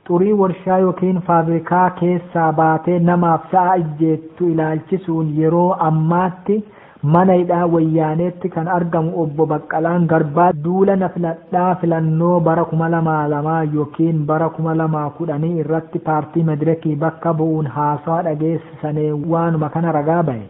Xurii warshaa ykn faabirikaa keessaa baatee namaaf sa'a ijjeettu ilaalchisuun yeroo ammaatti mana hidhaa Wayyaaneetti kan argamu Obbo Baqqalaan Garbaa duula na filadhaa filannoo bara 2002 ykn bara 2010 irratti paartii Medireki bakka bu'uun haasawa dhageessisane waanuma kana ragaa bahe.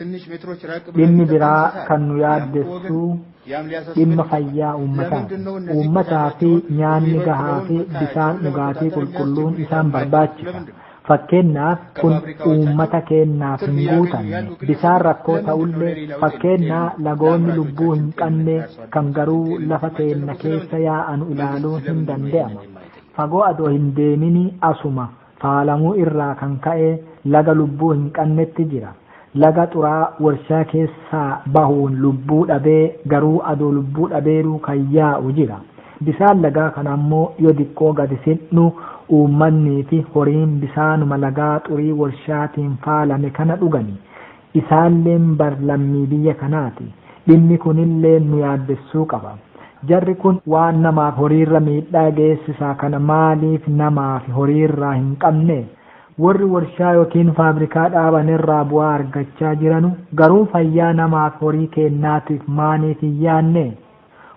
Dhimmi biraa kan nu yaaddessu dhimma fayyaa uummataati. Uummataa fi nyaanni gahaa fi bishaan dhugaatii qulqulluun isaan barbaachisa. Fakkeenyaaf kun uummata keenyaaf hin guutamne. Bishaan rakkoo ta'ullee fakkeenyaa lagoonni lubbuu hin qabne kan garuu lafa teenna keessa yaa'anu ilaaluun hin danda'ama. Fagoo adoo hin deeminii asuma faalamuu irraa kan ka'e laga lubbuu hin qannetti jira. Laga xuraa'aa warshaa keessaa bahuun lubbuu dhabee garuu adoo lubbuu dhabeeruu kan yaa'u jira. Bisaan lagaa kana ammoo yo diqqoo gadi siqnu uummanniifi horiin bisaanuma lagaa xurii warshaatiin faalame kana dhugani. Isaan'lleen bar lammii biyya kanaati. Dhimmi kun'lleen nu yaaddessuu qaba. Jarri kun waan namaafi horiirra miidhaa geessisaa kana maaliif namaafi horiirraa hin qabnee? Worri worshaa yookiin faabrikaa dhaaban'rraa bu'aa argachaa jiranu garuu fayyaa namaafi horii keennaatiif maaniif hin yaannee?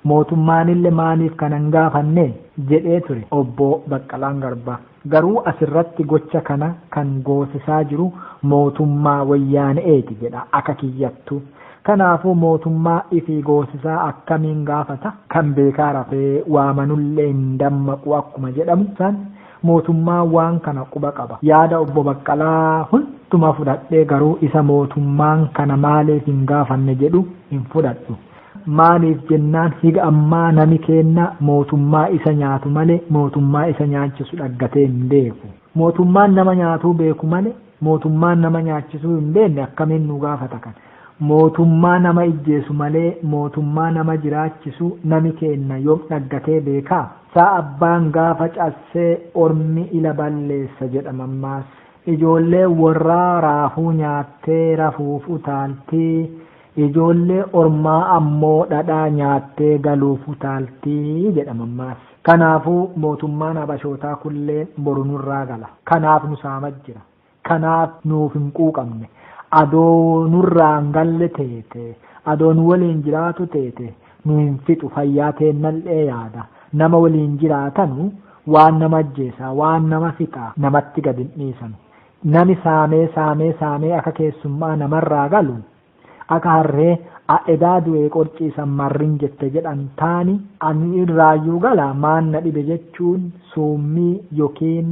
Mootummaanille maaliif kana hin gaafanne? jedhee ture Obbo Baqqalaan Garbaa. Garuu asirratti gocha kana kan goosisaa jiru mootummaa Woyyaane'eeti jedha aka kiyyattu. Kanaafuu mootummaa ifii goosisaa akkamiin gaafata? Kan beekaa rafee waamanulle hin dammaqu akkuma jedhamu san mootummaan waan kana quba qaba. Yaada Obbo Baqqalaa hunduma fudhadhee garuu isa mootummaan kana maaliif hin gaafanne jedhu hin fudhadhu. Maaliif jennaan higa ammaa nami keenna mootummaa isa nyaatu male mootummaa isa nyaachisu dhaggatee hin beeku. Mootummaan nama nyaatuu beeku male mootummaan nama nyaachisuu hin beenne akkamiin nu gaafata kan. Mootummaa nama ijjeesu malee mootummaa nama jiraachisu nami keenna yom dhaggatee beekaa? Saa abbaan gaafa cassee ormi ila balleessa jedha mammaassi. Ijoolleen worraa raafuu nyaattee rafuuf utaalti. Ijoollee ormaa ammoo dhadhaa nyaattee galuuf utaalti jedha mammaaksa. Kanaafuu mootummaan Habashootaa kulleen boru nurraa gala. Kanaaf nu saamaa jira. Kanaaf nuuf hin quuqamne. Adoo nurraa hin galle teete, adoo nu waliin jiraatu teete nu hin fixu fayyaa teennallee yaada. Nama waliin jiraatanu waan nama ajjeesa, waan nama fixa namatti gad hin dhiisanu. Nami saamee saamee saamee aka keessummaa namarraa galu, aka harree a edaa du'ee qorciisan marrin jette jedhan taani ani irraayyuu gala maan na dhibe jechuun suummii yookiin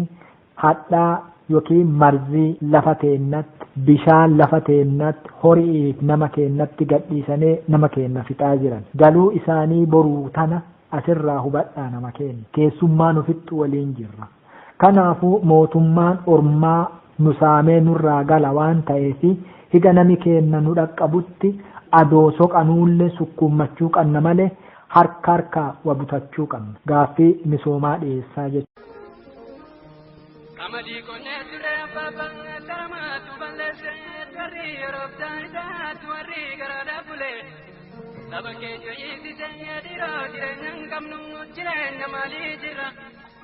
hadhaa yookiin marzii lafa teennatti, bishaan lafa teennatti, hori'iif nama keennatti gadhiisanee nama keenna fixaa jiran. Galuu isaanii boruu tana asirraa hubadhaa nama keenna. Keessummaa nu fixxu waliin jirra. Kanaafuu mootummaan ormaa nu saamee nurraa gala waan ta'eef higa nami keenna nu dhaqqabutti adoo soqanuulle sukkuummachuu qanna malee harka harkaa wa butachuu qanna. Gaaffii misoomaa dhiyeessaa jechuun. Qamadii qonnee turree abbaa baay'ee taramaatu balleesse warri yeroof daayitaatu warri garaadhaa bule saba keenya hiisise dhiiroo jireenya hin qabnu jireenya maalii jirra.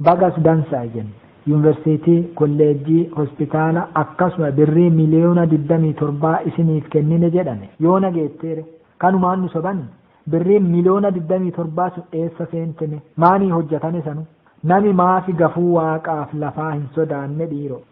Bagas dansa jen. Yunversitii, kolleejjii, hospitaala akkasuma birrii miliyoona 27 isiniif kennine jedhame. Yoona geetteere? Kanumaan nu sobani? Birriin miliyoona 27 sun eessa seente me? Maanii hojjatame sanu? Nami maafi gafuu waaqaaf lafaa hin sodaanne dhiiroo?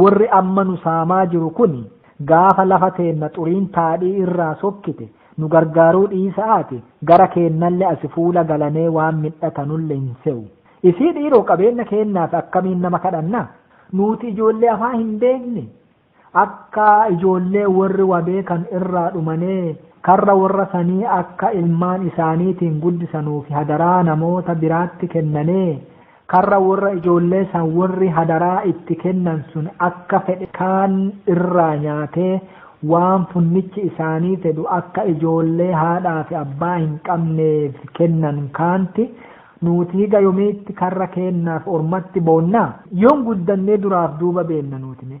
Worri amma nu saamaa jiru kuni gaafa lafa teenna xuriin taadhii irraa sokkite nu gargaaruu dhiisa'aati gara keennalle asi fuula galanee waan midhatanulle hin sewu. Isii dhiiroo qabeenna keennaaf akkamiin nama kadhanna? Nuuti ijoollee afaan hin beekne? Akka ijoollee worri wa beekan irraa dhumanee karra worra sanii akka ilmaan isaaniitiin guddisanuufi hadaraa namoota biraatti kennanee Karra worra ijoollee san worri hadaraa itti kennan sun akka fedhe kaan irraa nyaatee, waan funnichi isaanii fedhu akka ijoollee haadhaa fi abbaa hin qabneef kennan kaanti, Nuuti higa yomiitti karra keennaaf ormatti boonnaa? Yoom guddannee duraaf duuba beenna nuuti mee?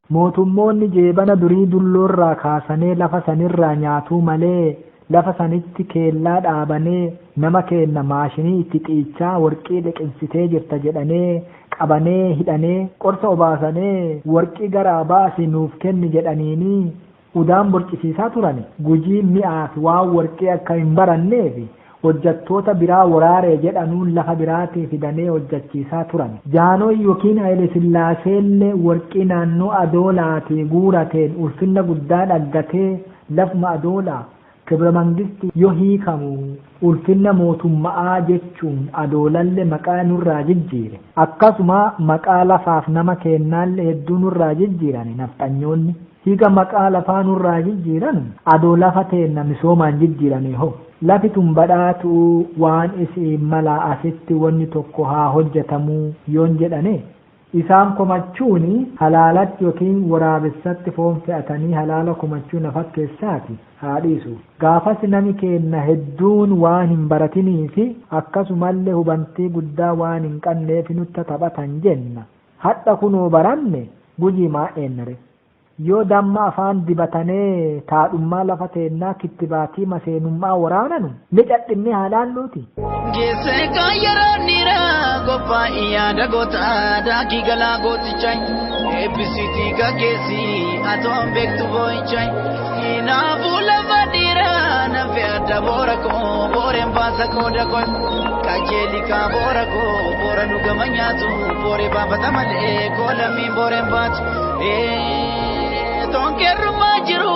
Mootummoonni jeebana durii dulloorraa kaasanee lafa sanirraa nyaatuu malee lafa sanitti keellaa dhaabanee nama keenna maashinii itti xiichaa worqii liqinsitee jirta jedhanee qabanee hidhanee qorsa obaasanee worqii garaa baasi nuuf kenni jedhaniinii Udaan borcisiisaa turani Gujiin mi'aafi waan worqii akka hin baranneefi hojjattoota biraa woraare jedhanuun lafa biraatii fidanee hojjachiisaa turani. Jaanooy yokiin Hayilesillaaseellee worqii naannoo Adoolaatii guurateen ulfinna guddaa dhaggatee lafuma Adoolaa, Kibra Mangisti yo hiikamu ulfinna mootumma'aa jechuun adoolalle maqaa nurraa jijjiire. Akkasuma maqaa lafaaf nama keennaalle hedduu nurraa jijjiirane nafxanyoonni. Higa maqaa lafaa nurraa jijjiiranu adoo lafa teenna misoomaan jijjiiranee hoo? Lafi tun badhaatu'uu waan isi'iin malaa asitti wonni tokko haa hojjatamuu yoon jedhanee? Isaan komachuuni halaalatti yookiin woraabessatti foon fe'atanii halaala komachuu na fakkeessaati haa dhiisu. Gaafasi nami keenna hedduun waan hin baratiniifi akkasumalle hubantii guddaa waan hin qanneefi nutta taphatan jenna. Hadha kunoo baranne, guyii maa eenna ree? Yoo damma afaan dibatanee taadhummaa lafa teennaa kittibaatii maseenum'aa woraananu, ni cadhinnee haa laalluutii? Geessee kaa yeroon dhiiraa qophaa'i yaada gootaa daakii galaa gootichaayi. Eebbisiitii gaggeessii atoon beektu boo'ichaayi. Hinaafuu lafa dhiiraa nafe adda boora koo booreen baasa qooda koo. Qajeeli kaa boora koo boora nu gama nyaatu booree baafata malee koo lammiin booreen baatu. Tonkeerrumaa jiru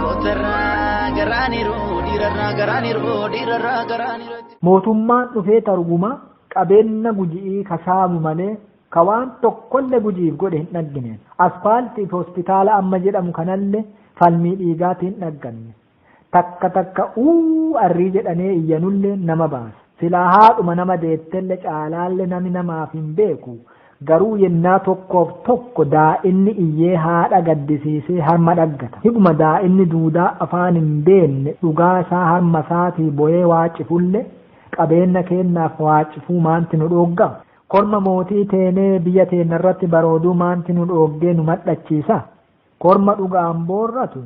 Kootarraa garaaniru dhiirarraa garaaniru dhiirarraa garaaniru. Mootummaan dhufee taruguma qabeenna guji'ii ka saamu malee ka waan tokkolle guji'iif godhe hin dhaggine. Aspaaltiif hospitaala amma jedhamu kanalle falmii dhiigaatiin dhagganne. Takka takka uuu arrii jedhanee iyyanulleen nama baasa. Silaa haadhuma nama deettelle caalaalle nami namaaf hin beeku. Garuu yennaa tokkoof tokko daa'inni iyyee haadha gaddisiisee harma dhaggata. Higuma daa'inni duudaa afaan hin beenne dhugaa isaa harma isaatii boyee waaccifulle, qabeenna keennaaf waaccifuu maanti nu dhoogga? Korma mootii teenee biyya teenna irratti barooduu maanti nu dhooggee nu madhachiisa? Korma dhugaan boorratu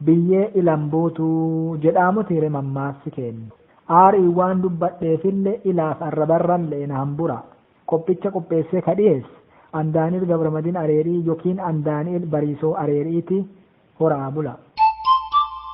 biyyee ilan buutu jedhaamutiire mammaassi keenna. Aariin waan dubbadheefille ilaaf arrabarran le'e na hambura. Qophicha qopheessee ka dhiyeesse an Daani'el Gabramadin Areerii yokiin an Daani'el Bariisoo Areeri'iti. Hora'aa bulaa.